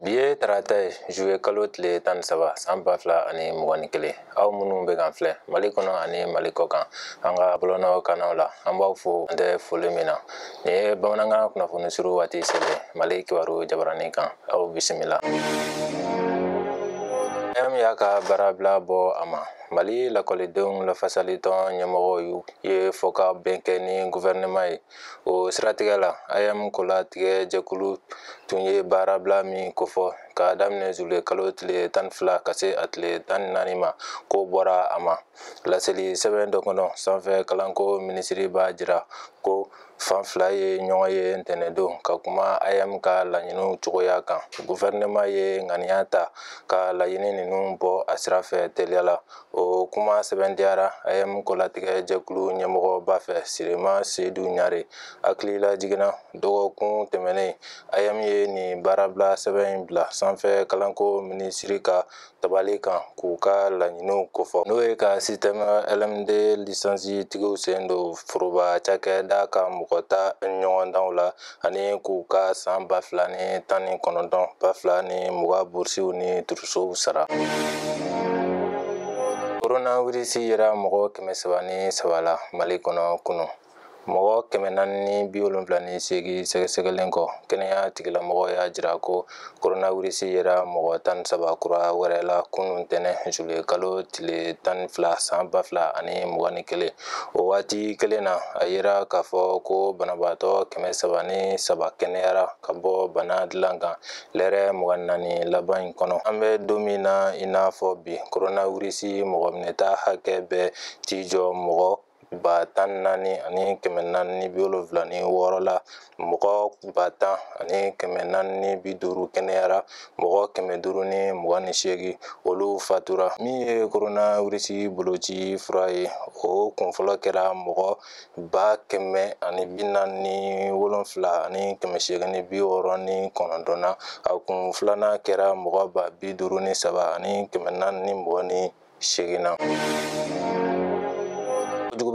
bi ye tarata ye zuluye kalo tile tan ni saba san ba fila ani mugan ni kelen aw minnu bɛ k'an filɛ mali kɔnɔ ani mali kɔkan an ka bɔlɔlɔ kannaw la an b'aw fo an tɛ foli min na nin ye bamanankan kunnafoni surun waati sɛbɛn mali kibaru jabaranin kan aw bisimila aeem y'a ka baarabila bɔ a ma mali lakɔlidenw lafasalitɔn ɲɛmɔgɔw u ye fɔkabɛn kɛ ni guvɛrɛnɛman ye o siratigɛ la aeem kolatigɛ jɛkulu tun ye baarabila min kofɔ k'a daminɛ zuluye kalo tile tan ni fila ka se a tile tan ni naani ma k'o bɔra a ma laseli sɛbɛn dɔ kɔnɔ sanfɛ kalanko minisiri b'a jira ko fan fila ye ɲɔgɔn ye ntɛnɛndon ka kuma aeem ka laɲiniw cogoya kan guvɛrɛnɛman ye ŋaniya ta ka laɲini ninnu bɔ a sira fɛ teliya la o kuma sɛmɛntiyara aeem kolatigɛ jɛkulu ɲɛmɔgɔba fɛ siriman sedu ɲare hakililajigin na dɔgɔkun tɛmɛnen aeem ye nin baarabila sɛbɛn in bila sanfɛ kalanko minisiri ka tabali kan k'u ka laɲiniw kofɔ n'o ye ka sisitɛmu lmd lisansi tigiw sen don foroba cakɛda ka mɔgɔ ta ɲɔgɔndanw la ani k'u ka san ba fila ni tan ni kɔnɔntɔn ba fila ni mugan burusiw ni turusow sara koronawirisi yera mɔgɔ kɛmɛ saba ni saba la mali kɔnɔ kunu mɔgɔ kɛmɛ naani ni bi wolonfila ni seegin sɛgɛsɛgɛlen kɔ kɛnɛya tigilamɔgɔw y'a jira ko koronawirisi yera mɔgɔ tan ni saba kura wɛrɛ la kunu ntɛnɛn zuluye kalo tile tan ni fila san ba fila ani mugan ni kelen o waati kelen na a yira k'a fɔ ko banabaatɔ kɛmɛ saba ni saba kɛnɛyara ka bɔ bana dilan kan lɛrɛ mugan ni naani laban in kɔnɔ an bɛ don min na i n'a fɔ bi koronawirisi mɔgɔ minɛta hakɛ bɛ t'i jɔ mɔgɔ ba tan ni naani ani kɛmɛ naani ni bi wolonwula ni wɔɔrɔ la mɔgɔ ba tan ani kɛmɛ naani ni bi duuru kɛnɛyara mɔgɔ kɛmɛ duuru ni mugan ni seegin olu fatura min ye koronawirisi boloci fura ye o kun fɔlɔ kɛra mɔgɔ ba kɛmɛ ani bi naani ni wolonwula ani kɛmɛ seegin ni bi wɔɔrɔ ni kɔnɔntɔn na a kun filanan kɛra mɔgɔ ba bi duuru ni saba ani kɛmɛ naani ni mugan ni seegin na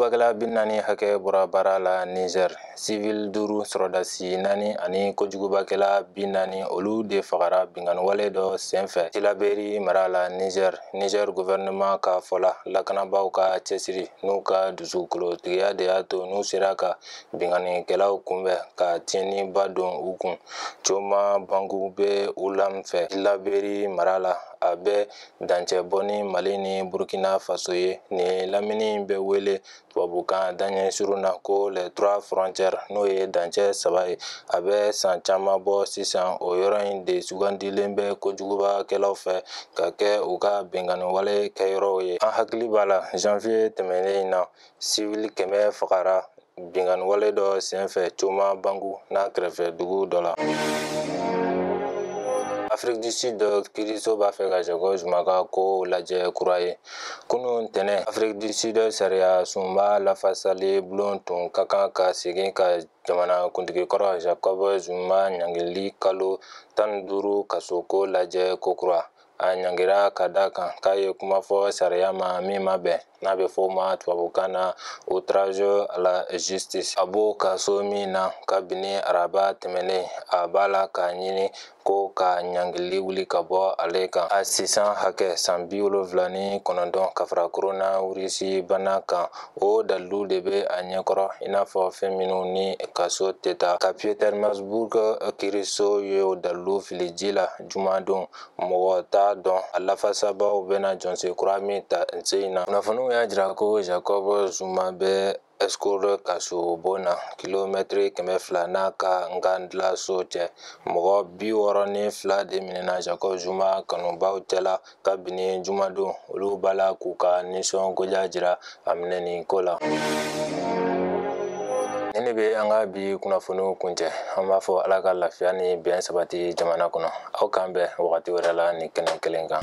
kojugubakɛla bi naani hakɛ bɔra baara la niger sivil duuru sɔrɔdasi naani ani kojugubakɛla bi naani olu de fagara binkanniwale dɔ senfɛ tilaberi mara la niger niger guvɛrɛnɛman ka fɔ la lakanabaaw ka cɛsiri n'u ka dusukolotigiya de y'a to n'u sera ka binkannikɛlaw kunbɛn ka tiɲɛniba don u kun coma bangu bɛ walam fɛ tilaberi mara la a bɛ dancɛ bɔ ni mali ni burkina faso ye nin lamini bɛ wele tubabukan daɲɛsurun na ko les trois frontières n'o ye dancɛ saba ye a bɛ san caman bɔ sisan o yɔrɔ in de sugandilen bɛ kojugubakɛlaw fɛ ka kɛ u ka binkanniwale kɛyɔrɔw ye an hakili b'a la janvier tɛmɛnen in na siwili kɛmɛ fagara binkanni wale dɔ senfɛ coma bangu n'a kɛrɛfɛ dugu dɔ la afiriki du sud kiriso b'a fɛ ka jacob zuma ka kow lajɛ kura ye kunun ntɛnɛn afiriki du sud sariya sunba lafasali bulon tun ka kan ka segin ka jamana kuntigi kɔrɔ jacob zuma ɲangili kalo tan ni duuru kaso ko lajɛ kokura a ɲangira ka da kan k'a ye kuma fɔ sariya ma min ma bɛn n'a bɛ fɔ o ma tubabukan na outrage à la justice a b'o kaso min na kabini araba tɛmɛnen a b'a la k'a ɲini ko ka ɲangili wuli ka bɔ ale kan a si san hakɛ san bi wolonfila ni kɔnɔntɔn ka fara koronawirisi bana kan o dalilu de bɛ a ɲɛkɔrɔ i n'a fɔ fɛn minnu ni kaso tɛ taa ka pietermaritzburg kiriso ye o dalilu fili ji la jumadon mɔgɔ t'a dɔn a lafasabaw bɛna jɔsen kura min ta sen in na kunnafoniw y'a jira ko jacob zuma bɛ estcourt kasobon na kilomɛtiri kɛmɛ fila n'a ka nkandla so cɛ mɔgɔ bi wɔɔrɔ ni fila de minɛna jacob zuma kanubaw cɛla kabini jumadon olu b'a la k'u ka nisɔngoya jira a minɛni ko la nin de bɛ an ka bi kunnafoniw kuncɛ an b'a fɔ ala ka lafiya ni bɛn sabati jamana kɔnɔ aw k'an bɛn wagati wɛrɛ la nin kɛnɛ kelen kan